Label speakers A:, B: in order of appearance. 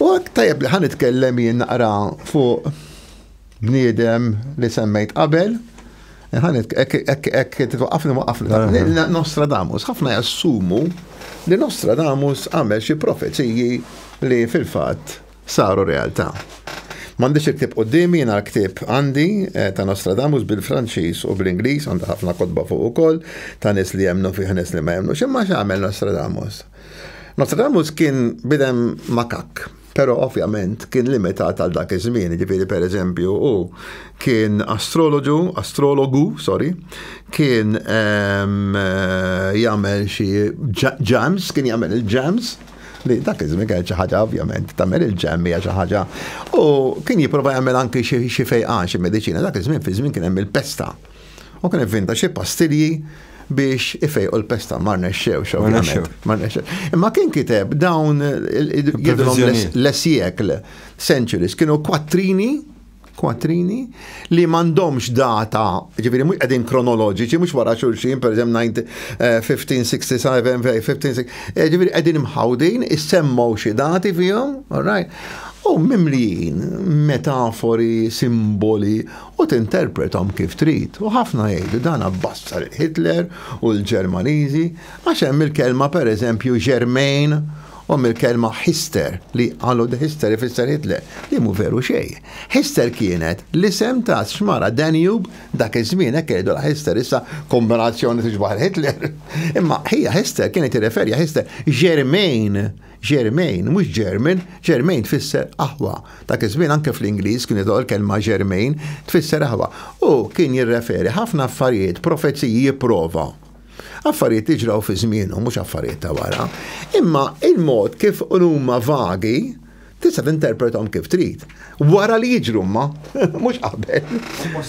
A: U tajjeb li ħa nitkellem jien naqra fuq bniedem li semmejt qabel, ħanet ek titwaqafni waqafni. Nostradamus, ħafna jassumu li Nostradamus għamel xi profeziji li fil-fatt saru realtà. M'għandix il-ktib qudiemi jiena l-ktib għandi eh, ta' Nostradamus bil-Franċiż u bl-Ingliż għandha ħafna kotba fuq ukoll ta' nies li jemnu fih nies li ma jemnu. X'imma x'għamel Nostradamus? Nostradamus kien bidem makak, pero ovvjament kien limitat għal dak iż-żmien, ġifieri per eżempju u kien astroloġu, astrologu, sorry, kien ehm, eh, jagħmel xi ġams, kien jagħmel il-ġams, li dak iż-żmien kien xi ħaġa ovvjament tagħmel il-ġem hija xi ħaġa. U kien jipprova jagħmel anki xi fejqan xi mediċina dak iż-żmien fi żmien kien hemm il-pesta. U kien ivvinta xi pastilji biex ifejqu l-pesta ma rnexxewx ovvjament. Ma rnexxewx. Imma kien kiteb dawn l-esjekl centuries kienu kwattrini kwattrini li m'għandhomx data, ġifieri mhux qegħdin kronoloġiċi, mhux wara xulxin, per 1567, 1560, eh, ġifieri qegħdin mħawdin, issemmaw xi dati fihom, all right? U mimlijin, metafori, simboli, u tinterprethom kif trid u ħafna jgħidu dan abbassar il-Hitler u l-Ġermaniżi għax hemm il-kelma pereżempju Germain u hemm il-kelma Hister li qalu the Hister ifisser Hitler li mhu veru xejn. Hister kienet l-isem ta' xmara Danube dak iż-żmien hekk jgħidu la Hister issa kombinazzjoni tixbaħ il-Hitler. Imma ħija Hister kienet tirreferja Hister Germain Germain, mhux German, Germain tfisser aħwa. Dak iż-żmien anke fl-Ingliż kien jidħol kelma Germain tfisser aħwa. U kien jirreferi ħafna affarijiet, profeziji jipprova. Affarijiet li ġraw fi żmienu, mhux affarijiet ta' wara. Imma il-mod kif huma vagi, tista' tinterpretom kif trid. Wara li jiġru ma, mhux qabel.